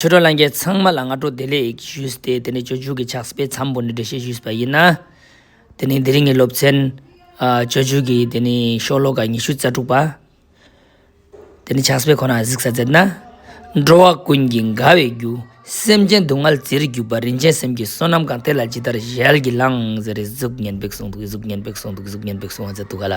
ཆོས་གྲོགས་ལང་རྒྱལ་ཚང་མ་ལ་སྔ་དྲོ་བདེ་ལེགས་ཞུས་ཏེ་དེ་ནས་ཆོས་བརྒྱུད་ཀྱི་ཕྱག་སྤེལ་འཚམས་པོ་འདི་འགྲེལ་བཤད་ཞུས་པ་ཡིན། དེ་ནས་འདི་རིང་གི་སློབ་ཚན། ཆོས་བརྒྱུད་ཀྱི་དེ་ནི་ཤོ་ལོ་ཀ་ཉི་ཤུ་རྩ་དྲུག་པ། དེ་ནི་ཕྱག་སྤེལ་ཁོ་ན་གཟིགས་ས་མཛད་ན། འགྲོ་བ་ཀུན་གྱི་དགའ་བའི་རྒྱུ། སེམས་ཅན་སྡུག་བསྔལ་བརྩེར་གྱུར་པ་རིན་ཆེན་སེམས་ཀྱི་བསོད་ནམས་གང་དེ་ལ་ཇི་ལྟར་ཞལ་གྱིས་བླངས་ཟེར་རེ་གཟུགས་བརྙན་འབེབས་གསུང་འདུག་གཟུགས་བརྙན་འབེབས་གསུང་འདུག་གཟུགས་བརྙན་འབེབས་གསུང་བ་མཛད་འདུག་ག་ལ།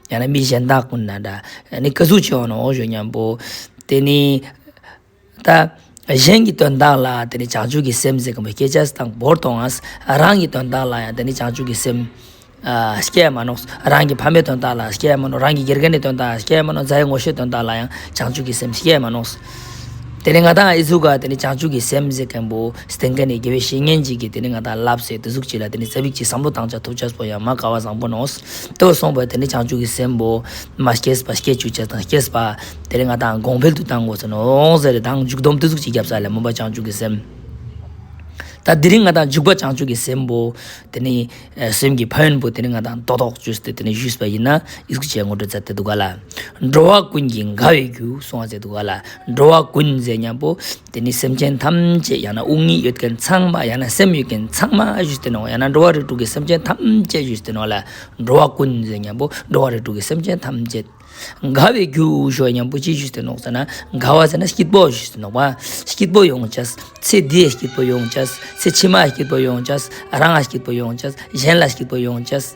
ཡང་ན་མི་གཞན་དག་ཀུན་ན་འདྲ། ནི་སྐུ་གཟུགས་ཆེ་བ་ནི་འོག་གཞུག་སྙམ་པོ། དེ་ནི་ད། གཞན་གྱི་དོན་དག་ལ་དེ་ནི་བྱང་ཆུབ་ཀྱི་སེམས་ཟེར་གྱི་མི་སྐད་ཆ་སུ་དང་བོར་དོང་ངམ། རང་གི་དོན་དག་ལ་ཡང་དེ་ནི་བྱང་ཆུབ་ཀྱི་སེམས། སྐྱེད་མ་ནོག། རང་གི་ཕ་མའི་དོན་དག་ལ་སྐྱེད་མ་ནོག་རང་གི་དགེ་རྒན་གྱི་དོན་དག་ལ་སྐྱེད་མ་ནོག་མཛའ་ཡི་ངོ་ཤེས་དོན་དག་ལ་ཡང་བྱང་ཆུབ་ཀྱི་སེམས་སྐྱེད་མ་ནོག། དེ་ནས་ང་དང་ཨི་ཟུག་ག་དེ་ནས་བྱང་ཆུབ་ཀྱི་སེམས་བསྐྱེད་མཁན་པོ་སྟེང་ག་ནས་དགེ་བའི་བཤེས་གཉེན་གཅིག་གིས་དེ་ནས་ང་དང་ལབ་ཟེར་དེ་གཟུགས་གཅིག་ལ་དེ་ནས་རྩ་བིག་གཅིག་བསམ་བློ་བཏང་བྱ་ཐུབ་བྱ་སོགས་ཡང་མ་དགའ་བ་བཟང་པོ་ནོ། དེ་བས་སོང་བས་དེ་ནས་བྱང་ཆུབ་ཀྱི་སེམས་པོ། མ་སྐྱེས་པ་སྐྱེ་བཅུག་བྱ་དང་སྐྱེས་པ། དེ་ནས་ང་དང་དགོངས་འཕེལ་དུ་བཏང་གོ་ཟེར་ནོ། འོང་ཟེར་དང་འཇུག་སྡོམ་དེ་གཟུགས་གཅིག་བརྒྱབ་ས་ལས་མོས་པ་བྱང་ཆུབ་ཀྱི་སེམས། ད་དེ་རིང་ང་དང་འཇུག་པ་བྱང་ཆུབ་ཀྱི་སེམས་པོ། དེ་ནས། སེམས་ཀྱི་ཕ་ཡོན་པོ་དེ་ནི་ང་དང་རྟོག་ཐོག་ཇུས་ཏེ་དེ་ནི་ཞུས་པ་ཡིན་ན་ཨིས་ཀྱིས་ངོ་སྤྲོད་མཛད་དེ་འདུག་ག་ལ། འགྲོ་བ་ཀུན་གྱི་དགའ་བའི་རྒྱུ་གསུང་བ་མཛད་འདུག་ག་ལ། འགྲོ་བ་ཀུན་མཛེས་སྙམ་པོ། དེ་ནི་སེམས་ཅན་ཐམས་ཅད་ཡང་ན་དབུགས་ཉིད་ཡོད་མཁན་ཚང་མ་ཡང་ན་སེམས་ཡོད་མཁན་ཚང་མ་ཞུས་ཏེ་ནོ་ཡང་ན་འགྲོ་བ་རིགས་དྲུག་གི་སེམས་ཅན་ཐམས་ཅད་ཞུས་ཏེ་ནོ་ལ། འགྲོ་བ་ཀུན་མཛེས་སྙམ་པོ་འགྲོ་བ་རིགས་དྲུག་གི་སེམས་ཅན་ཐམས་ཅད། དགའ་བའི་རྒྱུ་ཞོ་སྙམ་པོ་ཅི་ཞུས་ཏེ་ནོག་ཙེ་ན་དགའ་བ་ཟེར་ན་སྐྱིད་པོ་ཞུས་ཏེ་ནོག་པ་སྐྱིད་པོ་ཡོང་བྱས། ཚེ་འདིའི་སྐྱིད་པོ་ཡོང་བྱས། ཚེ་ཕྱི་མའི་སྐྱིད་པོ་ཡོང་བྱས། རང་ལ་སྐྱིད་པོ་ཡོང་བྱས། གཞན་ལ་སྐྱིད་པོ་ཡོང་བྱས།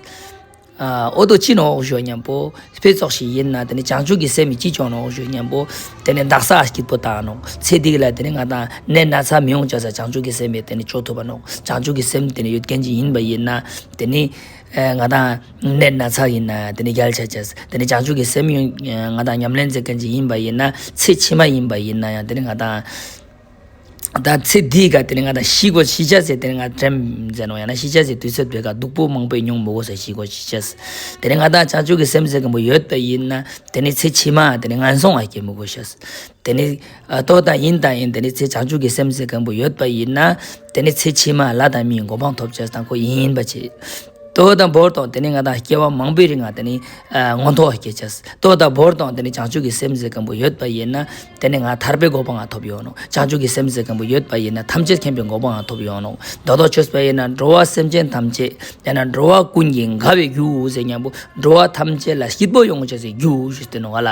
ཨོ་ཏོ་ཅི་ནོག་ཞོ་སྙམ་པོ། ཕས་ཚོགས་ཤིག་ཡིན་ན་དེ་ནི་བྱང་ཆུབ་ཀྱི་སེམས་ཀྱིས་ཅི་སྐྱོང་ནོག་ཞོ་སྙམ་པོ། དེ་ནི་བདག་སར་སྐྱིད་པོ་དང་ནོག་ཚེ་འདི་ལ་དེ་ནི་ང་དང་ནད་ན་ཚ་མི་ཡོང་བྱས་བྱང་ཆུབ་ཀྱི་སེམས་པས་དེ་ནི་སྐྱོ་ཐུབ་པ་ནོག་བྱང་ཆུབ་ཀྱི་སེམས་དེ་ནི་ཡོད་མཁན་གྱི་ཡིན་པ་ཡིན་ན་དེ་ནི། ང་དང་ནད་སྣ་ཚགས་ཡིན་ན་དེ་ནི་རྒྱལ་ཆ་བྱས། དེ་ནི་བྱང་ཆུབ་ཀྱི་སེམས་ཡོན་ང་དང་ཉམས་ལེན་མཛད་མཁན་ཞིག་ཡིན་པ་ཡིན་ན་ཚེ་ཕྱི་མ་ཡིན་པ་ཡིན་ན་ཡང་དེ་ནི་ང་དང། དང་ཚེ་འདིའི་སྐབས་དེ་ནི་ང་དང་ཤི་གོ་ཤི་བྱ་ཟེར་དེ་ནི་ང་དྲན་མཛད་ནོ་ཡང་ན་ཤི་བྱ་ཟེར་དུས་ཚོད་དེ་སྐབས་སྡུག་པོ་མང་པོས་མྱོང་མོ་གོ་ཟེར་ཤི་གོ་ཤི་བྱ་ཟེར་དེ་ནི་ང་དང་བྱང་ཆུབ་ཀྱི་སེམས་མཛད་མཁན་པོ་ཡོད་པ་ཡིན་ན་དེ་ནི་ཚེ་ཕྱི་མ་དེ་ནི་ངན་སོང་བ་སྐྱེ་མོ་གོ་ཤ་ཟེར་དེ་ནི། རྟོག་དང་ཡིན་དང་ཡིན་དེ་ནི་ཚེ་བྱང་ཆུབ་ཀྱི་སེམས་ཟེར་མཁན་པོ་ཡོད་པ་ཡིན་ན། དེ་ནི་ཚེ་ཕྱི་མ་ལྷ་དང་མིའི་མགོ་འཕང་ཐོབ་བྱེད་དང་པོ་ཡིན་པར་བྱེད། རྟོག་དང་བོར་དང་དེ་ནི་ང་དང་སྐྱེ་བ་མང་པོའི་རིང་ང་དེ་ནི་མངོན་མཐོ་བ་སྐྱེད་བྱེད། རྟོག་དང་བོར་དང་དེ་ནི་བྱང་ཆུབ་ཀྱི་སེམས་ཟེར་མཁན་པོ་ཡོད་པ་ཡིན་ན། དེ་ནི་ང་ཐར་པའི་མགོ་འཕང་ཐོབ་ཡོང་ནོ། བྱང་ཆུབ་ཀྱི་སེམས་ཟེར་མཁན་པོ་ཡོད་པ་ཡིན་ན་ཐམས་ཅད་མཁྱེན་པའི་མགོ་འཕང་ཐོབ་ཡོང་ནོ། སྒྲོ་འདོགས་ཆོད་པ་ཡིན་ན་འགྲོ་བ་སེམས་ཅན་ཐམས་ཅད་ཡང་ན་འགྲོ་བ་ཀུན་གྱི་དགའ་བའི་རྒྱུའོ་ཟེར་སྙམ་པོ། འགྲོ་བ་ཐམས་ཅད་ལ་སྐྱིད་པོ་ཡོང་བྱེད་ཀྱི་རྒྱུའོ་ཞེས་བསྟན་ནོ་ང་ལ།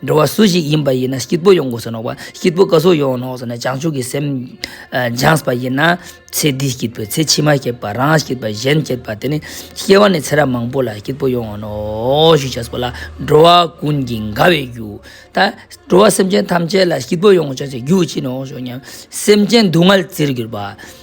འགྲོ་བ་སུ་ཞིག་ཡིན་པ་ཡིན་ན་སྐྱིད་པོ་ཡོང་དགོས་སུ་ནོག་པ་སྐྱིད་པོ་ག་སུ་ཡོང་ནོག་སུ་ནས་བྱང་ཆུབ་ཀྱི་སེམས་སྦྱངས་པ་ཡིན་ན་ཚེ་འདི་སྐྱིད་པོས་ཚེ་ཕྱི་མ་སྐྱིད་པ་རང་སྐྱིད་པ་གཞན་སྐྱིད་པ་དེ་ནི་སྐྱེ་བ་ནས་ཚེ་རབས་མང་པོ་ལ་སྐྱིད་པོ་ཡོང་ནོག་ཞུ་བྱས་སོ་ལ་འགྲོ་བ་ཀུན་གྱི་དགའ་བའི་རྒྱུ། ད་འགྲོ་བ་སེམས་ཅན་ཐམས་ཅད་ལ་སྐྱིད་པོ་ཡོང་བྱས་སུ་རྒྱུ་བྱིན་ནོག་ཞུ་སྙམ། སེམས་ཅན་སྡུག་བསྔལ་བརྩིར་གྱུར་པ།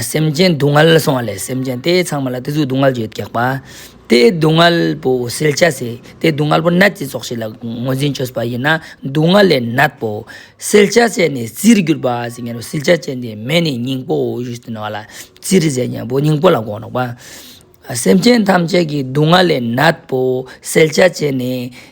སེམས་ཅན་སྡུག་བསྔལ་ལ་སོང་བ་ལས་སེམས་ཅན་དེ་ཚང་མ་ལ་དེ་ཚོའི་སྡུག་བསྔལ་བརྗོད་དགག་པ། དེའི་སྡུག་བསྔལ་པོ་སེལ་བྱ་ཟེ། དེའི་སྡུག་བསྔལ་པོ་ནད་ཀྱི་ཚོགས་ཤིག་ལ་ངོས་འཛིན་བྱོས་པ་ཡིན་ན་སྡུག་བསྔལ་ལས་ནད་པོ། སེལ་བྱ་ཟེ་ནི་རྩིར་གྱུར་པ་ཟེ་ཉེ་རུ་སེལ་བྱ་ཅན་དེའི་མེ་ནི་སྙིང་པོའོ་ཞེས་བསྟན་བ་ལ། རྩིར་ཟེ་ཉེ་པོ་སྙིང་པོ་ལ་གོ། སེམས་ཅན་ཐམས་ཅད་ཀྱི་སྡུག་བསྔལ་ལས་ནད་པོ་སེལ་བྱ་ཅན་ནི།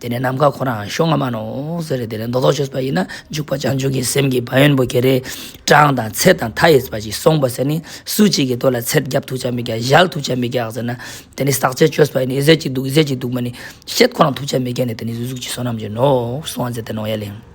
དེ་ནས་ནམ་མཁའ་ཁོ་རང་ཤོ་ང་མ་ནོ་ཟེར་རེ་དེ་ནས་མདོ་སྡོ་ཆོས་པ་ཡིན་ན་འཇུག་པ་བྱང་ཆུབ་ཀྱི་སེམས་ཀྱི་བ་ཡོན་པོ་གེ་རེ་བྲང་དང་ཚེ་དང་མཐའ་ཡས་པ་ཅིག་སོང་བ་ཟེར་ནི་སུ་གཅིག་གི་ལྟོ་ལ་ཚད་རྒྱབ་ཐུག་ཆ་མི་རྒྱག་གཞལ་ཐུག་ཆ་མི་རྒྱག་ཟེར་ན་དེ་ནི་ཟག་བཅས་ཆོས་པ་ཡིན་ནི་ཨི་ཟད་ཅིག་འདུག་ཨི་ཟད་ཅིག་འདུག་མ་ནི་བཤད་ཁོ་རང་ཐུག་ཆ་མི་རྒྱག་ནི་དེ་ནི་གཟུགས་ཀྱི་བསོད་ནམས་ཀྱི་ནོ་སོང་བ་མཛད་དེ་ནོ་ཡ་གླིང།